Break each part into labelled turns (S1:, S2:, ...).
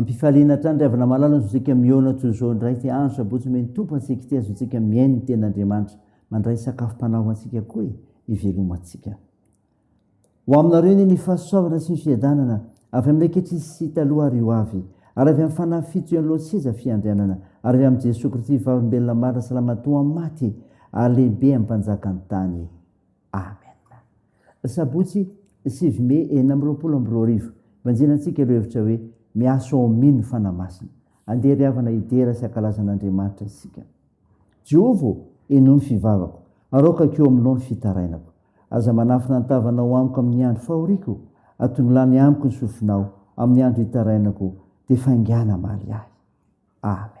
S1: Ampifaliana hatrany ry havana malala ny zontsika mihaona toy izao indray ity andro sabotsy omeny Tompo antsika ity azontsika mihaino ny teny Andriamanitra mandray sakafom-panahy ho antsika koa e hivelomantsika ho aminareo anie ny fahasoavana sy ny fiadanana avy amin'ny ankehitriny sy taloha ary ho avy ary avy amin'ny fanahy fito ian'ny lohan'ny seza fiandrianana ary avy amin'i Jesoa Kristy vavolombelona marina salamatoa amin'ny maty ary lehibe amin'ny mpanjakan'ny tany Amen. Sabotsy sivy mey enina amby roapolo amby roa arivo, Vanjina antsika ireo hevitra hoe Miasa ao amin ny Fanahy Masina. Andeha ry havana hidera sy hankalaza an Andriamanitra isika. Jehovah ô, henoy ny fivavako, araokako eo aminao ny fitarainako. Aza manafina ny tavanao amiko amin ny andro fahoriako, atongilany amiko ny sofinao amin ny andro hitarainako, dia faingàna hamaly ahy. Amen.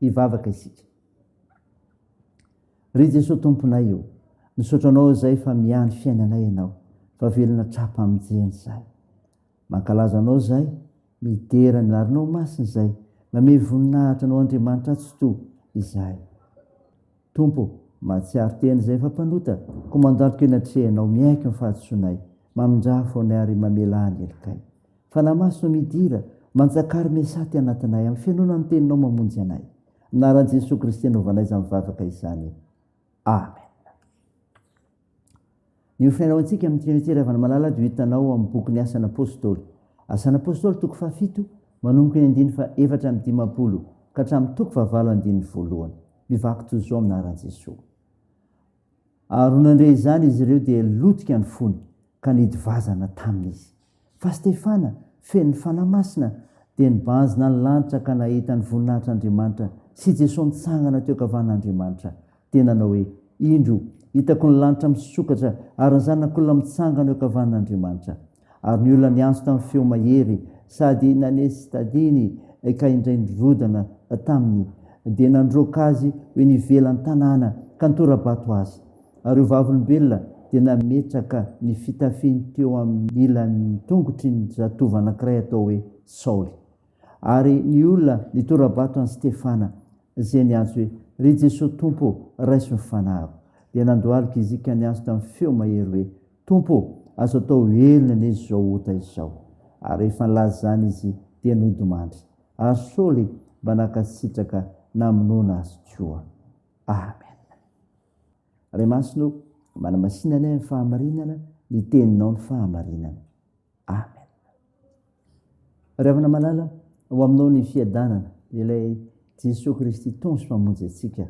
S1: Hivavaka isika. Ry Jesoa Tomponay o, misaotra Anao izay fa miahy ny fiainanay Ianao, fa velona tra-pamonjena izahay. Mankalaza Anao izahay, midera ny larinao masina izahay, mamehy voninahitra Anao Andriamanitra Atsitoha izahay. Tompo, mahatsiaro tena izay efa mpanota, Komandantiko eny an-trehanao, miaiky ny fahadisoanay, mamindraha fonay ary mamelà ny helokay. Fanahy Masina o midira, manjaka ary miasà aty anatinay, amin'ny fihainoana ny Teninao mamonjy anay. Anaran'i Jesoa Kristy anaovanay izany vavaka izany. Amen. Ny hofiainao antsika amin'i Trinite Ravalomalala dia ho hitanao ao amin'ny bokin'ny Asan'ny Apôstôly. Asan'ny Apôstôly toko fahafito, manomboka ny andininy fahaefatra amby dimampolo ka hatramin'ny toko fahavalo andininy voalohany. Mivaky toy izao amin'ny anaran'i Jesoa. Ary ho nandre izany izy ireo dia lotika ny fony ka nidivazana taminy izy. Fa Stefana, feno ny Fanahy Masina, dia nibanjina ny lanitra ka nahita ny voninahitr'Andriamanitra sy Jesoa mitsangana teo ankavanan'Andriamanitra, dia nanao hoe, Indro, hitako ny lanitra misokatra ary ny Zanak'olona mitsangana eo ankavanan'Andriamanitra. Ary ny olona niantso tamin'ny feo mahery sady nanesy tadiny ka indray nirodana taminy, dia nandroaka azy ho eny ivelan'ny tanàna ka nitora-bato azy. Ary io vavolombelona dia nametraka ny fitafiny teo amin'ny ilan'ny tongotry ny zatovo anankiray atao hoe Saoly. Ary ny olona nitora-bato an'i Stefana, izay niantso hoe, Ry Jesoa Tompo, raiso ny fanahiko! Dia nandohalika izy ka niantso tamin'ny feo mahery hoe, Tompo ô, azo atao velona anie izao ota izao! Ary rehefa nilaza izany izy, dia nodimandry. Ary Saoly mba nankasitraka namonoana azy koa. Amen. Ray masina ô, manamasina anay amin'ny fahamarinana ny teninao ny fahamarinana. Amen. Ry havana malala, ho aminao ny fiadanana, ilay Jesoa Kristy Tompo sy Mpamonjy antsika.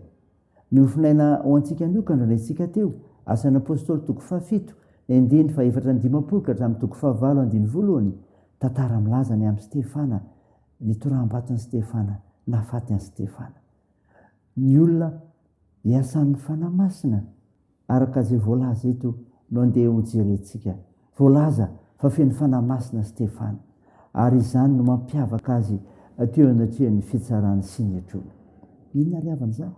S1: Nofinaina ho antsika anio ka nandrandraintsika teo, asan'ny Apôstôly toko fahafito, endiny fahefatra ny dimampolo ka hatramin'ny toko fahavalo andiny voalohany, tantara milaza ny amin'i Stefana, ny toraham-baton'i Stefana, nahafaty an'i Stefana. ny olona iasan'ny Fanahy Masina araka izay voalaza eto no andeha hojerentsika. Voalaza fa feno Fanahy Masina Stefana ary izany no mampiavaka azy teo anatrehan'ny fitsarana sy ny hetrony. Inona ary havana izany?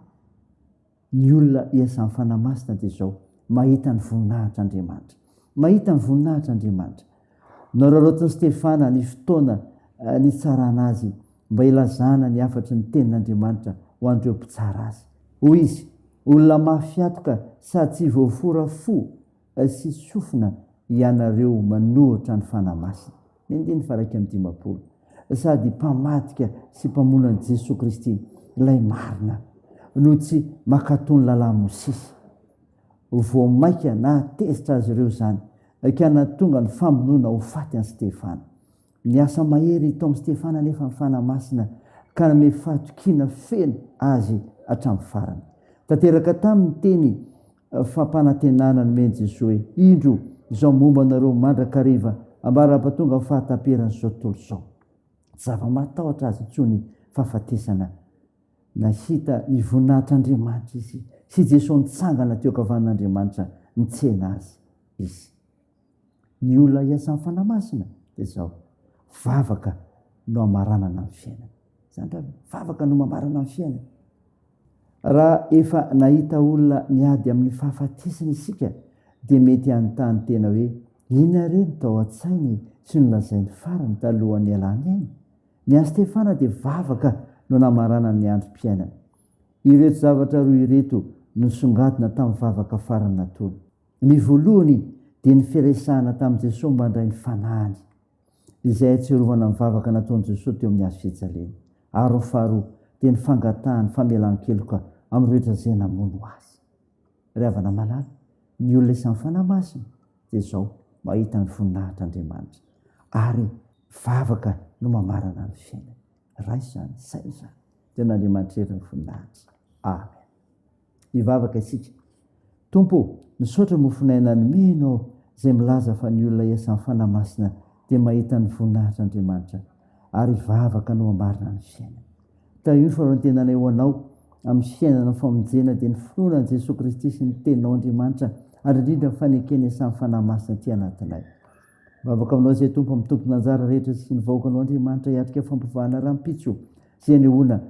S1: Ny olona iasan'ny Fanahy Masina dia izao, mahita ny voninahitr'Andriamanitra. Mahita ny voninahitr'Andriamanitra. Noraraotin'i Stefana ny fotoana nitsarana azy mba hilazana ny hafatry ny Tenin'Andriamanitra ho an'ireo mpitsara azy. Hoy izy, Olona mafy atoka sady tsy voafora fo sy sofina ianareo manohitra ny Fanahy Masina, ny andininy faharaika amby dimampolo, sady mpamadika sy mpamono an'i Jesoa Kristy, ilay marina, no tsy mankatò ny Lalàn'i Mosesy. Vao mainka nahatezitra azy ireo izany ka nahatonga ny famonoana ho faty an'i Stefana. Niasa mahery tao amin'i Stefana anefa ny Fanahy Masina ka nanome fahatokiana feno azy hatramin'ny farany. Tanteraka taminy ny teny fampanantenana nomen'i Jesoa hoe, Indro izao momba anareo mandrakariva ambara-pahatonga ny fahataperan'izao tontolo izao. Tsy zava-mahatahotra azy intsony ny fahafatesana. Nahita ny voninahitr'Andriamanitra izy sy i Jesoa nitsangana teo an-kavanin'Andriamanitra nitsena azy izy. Ny olona hiasan'ny Fanahy Masina dia izao, vavaka no hamaranana ny fiainany. Izany raha ve? Vavaka no mamarana ny fiainany. Raha efa nahita olona niady amin'ny fahafatesana isika dia mety hanontany tena hoe, inona re no tao an-tsainy sy nolazainy farany talohan'ny hialany aina? Ny an'i Stefana dia vavaka no namaranany ny androm-piainany. Ireto zavatra roa ireto no nisongadina tamin'ny vavaka farany nataony. Ny voalohany dia ny firesahana tamin'i Jesosy mandray ny fanahiny, izay ahatsiarovana ny vavaka nataon'i Jesosy teo amin'ny hazo fijaliana, ary ny faharoa dia ny fangatahany famelan-keloka amin'ny rehetra izay namono Azy. Ry havana malala, ny olona isan'ny fanahy masina dia izao, mahita ny voninahitr'Andriamanitra ary vavaka no mamarana ny fiainany. Ray izany, saina izany. Dia an'Andriamanitra irery ny voninahitra. Amen. Hivavaka isika. Tompo, misaotra mofon'aina nomenao izay milaza fa ny olona isan'ny fanahy masina dia mahita ny voninahitr'Andriamanitra ary vavaka no mamarina ny fiainany. ka io fanantenana eo anao amin'ny fiainana amin'ny famonjena dia ny finoana an'i Jesoa Kristy sy ny teninao Andriamanitra ary indrindra ny fanekena isan'ny Fanahy Masina aty anatinay. Vavaka aminao izay Tompo amin'ny tompon'anjara rehetra sy ny vahoakanao Andriamanitra hiatrika fampivahana rahampitso sy anehoana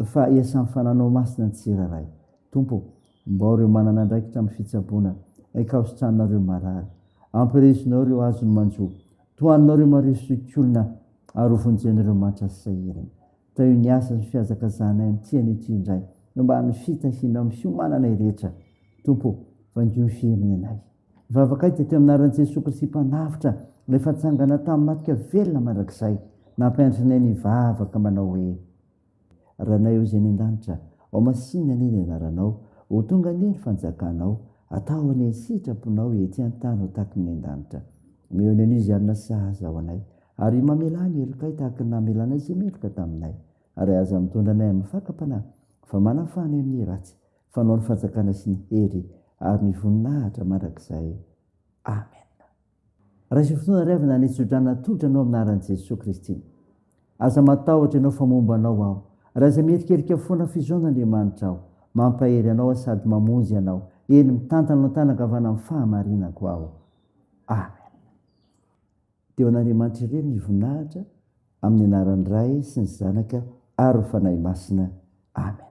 S1: fa iasan'ny Fananao Masina ny tsirairay. Tompo, mbao ireo manana andraikitra amin'ny fitsaboana, ikaositranareo marary. Ampirisonao ireo azony manjo, Tohanina ireo marivo sy okiolona ary ho vonjen'ireo matra sy sahirana. Atao io ny asa sy ny fihazakazahanay amin'ny tiany ity indray, eo ambanin'ny fitahianao amin'ny fiomananay rehetra, Tompo ô, vangio ny firenenay. Ny vavakay dia teo amin'ny anaran'i Jesoa Kristy Mpanavotra, Ilay efa natsangana tamin'ny maty ka velona mandrakizay, nampianatra anay ny hivavaka manao hoe. Ranay Ô Zay any an-danitra ao Masinina anie ny anaranao Ho tonga anie ny fanjakanao Atao anie ny sitraponao Ety an-tany ho tahaky ny an-danitra Mihaona anio izay alina Sahaza ho anay Ary mamelà ny helokay Tahaky ny namelanay Izay meloka taminay Ary aza mitondra anay amin'ny fakam-panahy Fa manafana amin'ny ratsy Fanao ny fanjakana sy ny hery Ary ny voninahitra mandrakizay Amen. Raiso fotoana iray avy nanitsodrana tolotra anao amin'ny anaran'i Jesoa Kristy. Aza matahotra ianao fa momba anao aho. Ary aza mierikerika foana fizaona Andriamanitra aho. Mampahery anao aho sady mamonjy anao. Eny, mitantana eo an-tanan-kavana amin'ny fahamarinako aho. Amen. Dia ho an'Andriamanitra irery ny voninahitra amin'ny anaran'ny Ray sy ny Zanaka ary ny Fanahy Masina. Amen.